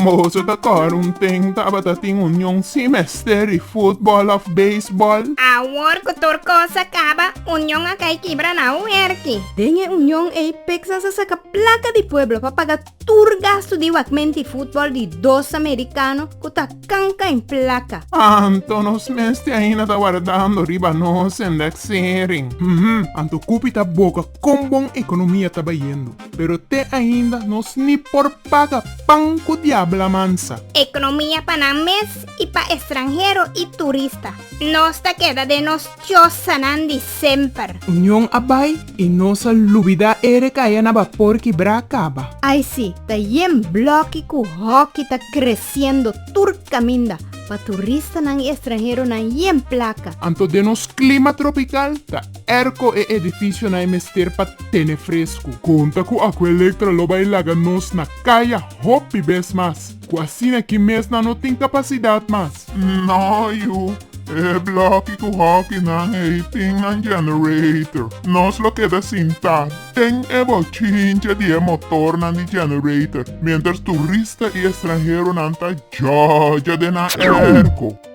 Mozo ta kòrda un teng tabata tin union sin mester di futbòl òf beisbòl. Awor ku tur kos a kaba, union a kai kibra na Huerki. Den e union ei Pekzas a saka plaka di pueblo pa paga tur gastu di wakmenti i futbòl di dos amerikano ku ta kanka en plaka. Anto nos mes te ainda ta wardando riba nos endeksering. Hm, anto Kupi ta boga kon bon ekonomia ta bayendo, pero te ainda nos ni por paga pan ku diabla mansa. Ekonomia pa nan mes i pa estranhero i turista. Nos ta keda den nos. Chosanan di semper. Union a bai y nos a lubida e recaya na bapor kibra caba. Ay si, ta yen bloki cu hoki ta creciendo tur caminda pa turistanan y estranheronan yen placa. Anto den nos clima tropical ta erco e edificionan e mester pa tene frescu. Conta cu Aqua Electra lo bai laga nos na caya hopi bes mas. Cu asina ki mes nan no tin capacidad mas. No yu e bloki cu hoki nan ey tin nan generator. Nos lo keda sinta den e bochincha di e motornan di generator mientras turista y estranheronan ta jojo den nan erco.